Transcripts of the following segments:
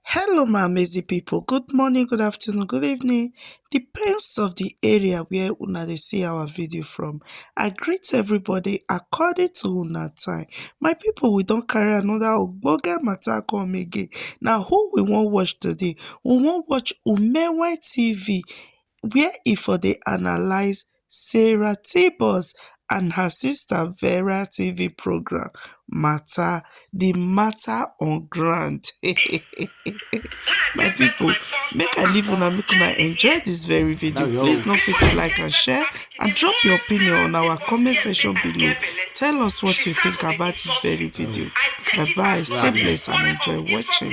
Hello my amazing people, good morning, good afternoon, good evening, depends of the area where una dey see our video from. I greet everybody according to una time. My people we don carry another ogbonge matter come again, na who we wan watch today? We wan watch Umewe TV where e for dey analyse sarah tebus and her sister vera tv programme mata di mata on ground my pipo make i leave una make una enjoy dis very video please no fit to like and share and drop your opinion on our comment section below tell us what you think about dis very video bye bye stay blessed and enjoy watching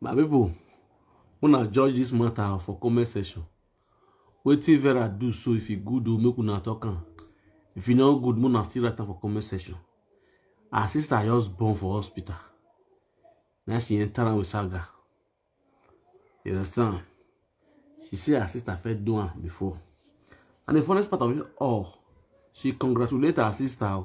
my people una judge this matter for comment section wetin vera do so if e good o make una talk am if e no good make una still write am for comment section her sister just born for hospital na she enter am with saga you understand she say her sister fit do am before and the funniest part of it all she congratulate her sister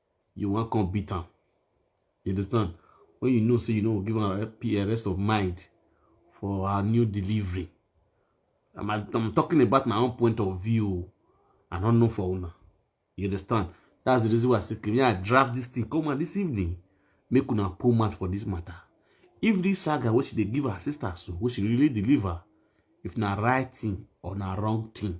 you wan come beat am you understand when you know say you no go give am a rest of mind for her new delivery i'm, I'm talking about my own point of view i don't know for una you understand that's the reason why i say me i draft this thing come on this evening make una pull mouth for this matter if this saga wey she dey give her sister so wey she really deliver if na right thing or na wrong thing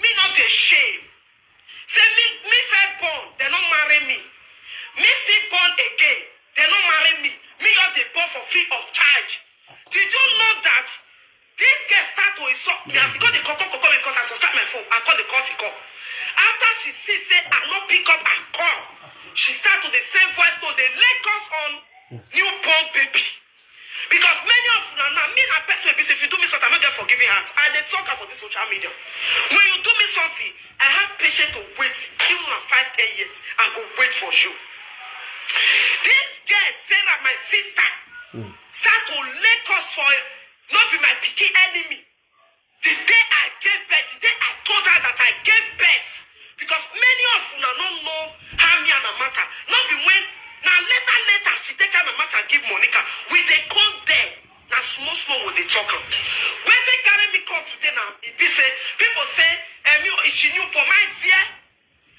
Me no dey shame. Say me me first born, they no marry me. Me still born again, they no marry me. Me just dey born for free of charge. Did you know that this girl start to insult me as e go dey koko koko me because I subscribe my phone and call the call she call. After she see say I no pick up her call, she start to dey send voice note dey lay curse on newborn baby. Because many of una now, me na person wey be say if you do me something, I no get forgiving heart. I dey talk am for this social media. When you do me something, I have patience to wait till na five, ten years. I go wait for you. This girl, Sarah, my sister, start to lay curse for no be my pikin enemy. The day I gave birth, the day I told her that I gave birth, because many of una no know how me and Amata. No be when na later later she take her Amata give Monica. We dey come there. Na small small we dey talk am. Wetin carry me come today na e be say people say Emi o- she new born my dear.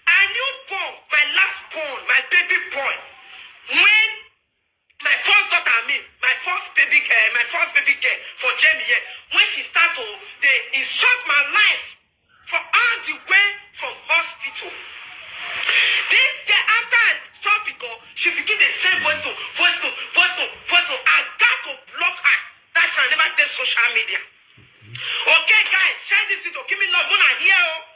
I new born my last born my baby boy when My first daughter, I mean, my first baby girl, my first baby girl for Jamie here, when she start to they insult my life for all the way from hospital. This girl, after I stop it, oh, she begin to send voice note, voice note, voice note, voice note. I got to block her. That time I never did social media. Okay, guys, share this video. Give me love. Mona here, oh.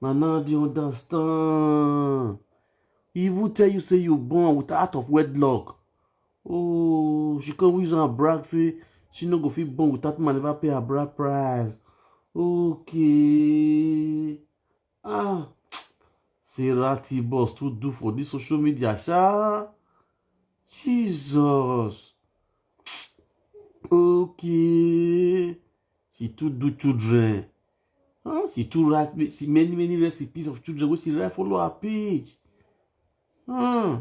Nana dey understand. He even tell you say you born with out of wedlock. Oh, she come use her brag say she no go fit born without man never pay her bride price. Okay. Ah, Sarah T boss too do for this social media, sha. Jesus. Okay. She too do children. Huh? She too write she many many recipes of children wey she write follow her page. Huh?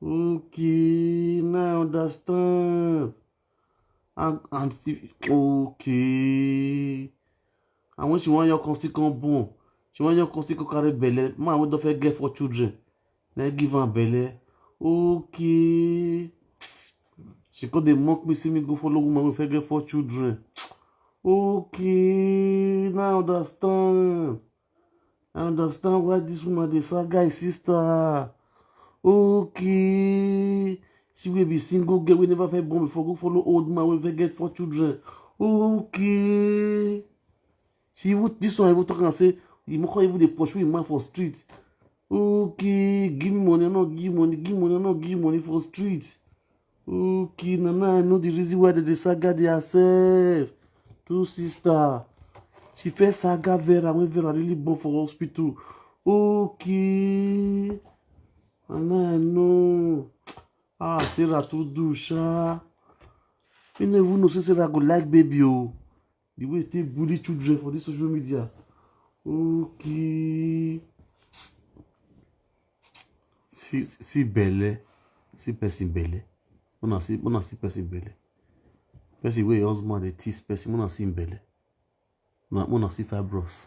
Okay, now I understand. And and she, okay. And when she wan your come still come born, she wan your come still come carry belle. Man wey don first get four children, na him give am belle okay she come dey mock me say me go follow woman wey fit get four children okay now i understand i understand why this woman dey sack guy sister okay she wey be single girl wey never fit born before go follow old man wey fit get four children okay she even this one even talk am say the moko even dey pursue him man for street okay give me money i no give money give money i no give money for street okay na now i know the reason why they dey saga their self two sister she first saga vera when vera really born for hospital okay na now i know ah sarah too do sha me no even know say sarah go like baby o. Oh. The way they bully children for this social media. Okay. See, see belle. See person belle. When I see, when I see person belle. Person where your husband they tease person. When I see belle. When I see fibros.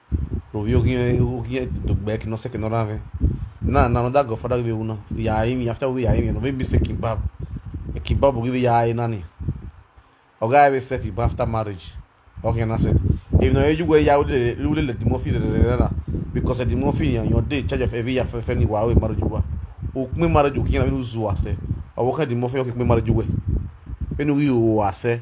no vio que eu que do back não sei que não rave na na não dá go fada que una ya aí me after we ya aí me não vem me sei kebab é kebab que ya aí nani o guy we set it after marriage okay na set if no you go ya we le le dimo fi re na because the dimo fi yan your day charge of every ya fe fe ni wa we marriage wa o pin marriage o kin na we zu ase o wo kan dimo fi o kin pin marriage we enu wi o ase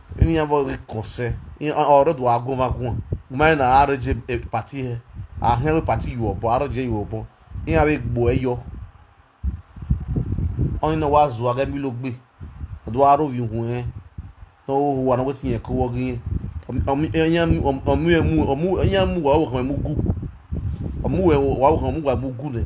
ini ya bo kose in oro do agun va gun mai na are je e, party he a he we party you obo are je you obo in ya we gbo eyo on no wa zu aga mi lo gbe do aro vi hun he no ho wa no wetin ye ko wo gin omu emu omu emu wa wo kan mu gu omu we wa wo kan mu gwa mu gu le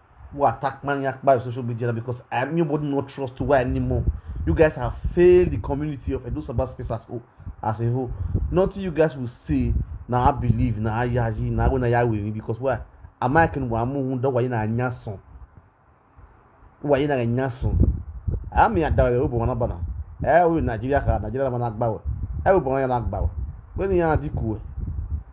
who attack man yakpa on social media now because I nobody not trust to why anymore. You guys have failed the community of Edo Sabah space as, whole, as a whole. Nothing you guys will say now I believe now I yaji now when I will because why am I can wa mu hunda wa ina nyaso wa ina nyaso ami adawe obo wana bana eh we Nigeria ka Nigeria mana agbawo eh we bo wana agbawo we ni ya dikuwe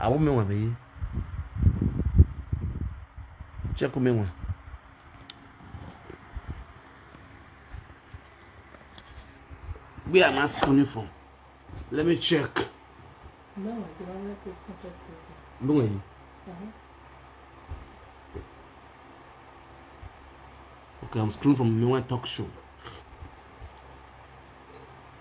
awo me wan be ye check me wan where am i schooling for let me check ndongo ye okay i'm schooling from me wan talk show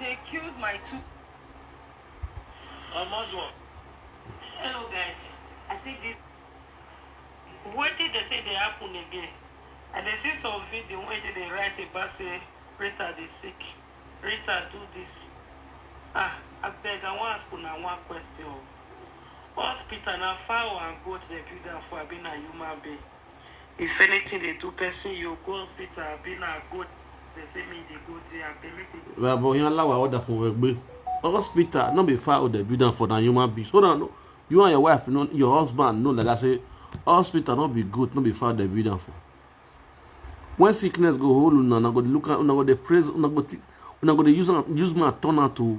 They killed my two. I must work. Hello, guys. I see this. What did they say they happen again? And they see some video where they write about say Rita is sick. Rita do this. Ah, I beg, I want to ask una one question. Hospital na fowl and goat dey build am for abi na human being? If anything dey do person, you go hospital. Abi na go dey say me dey go there. Abeg make we go. Bàbá yẹn aláwọ̀ àwọn ọ̀dà fún wọn gbé. Hospital no be far o dey build am for na human being. So na no you and your wife know your husband know like that say hospital no be good no be far dey build am for. When sickness go hold una, una go dey look am, una go dey praise, una go, thi- una go dey use am, use man turn am to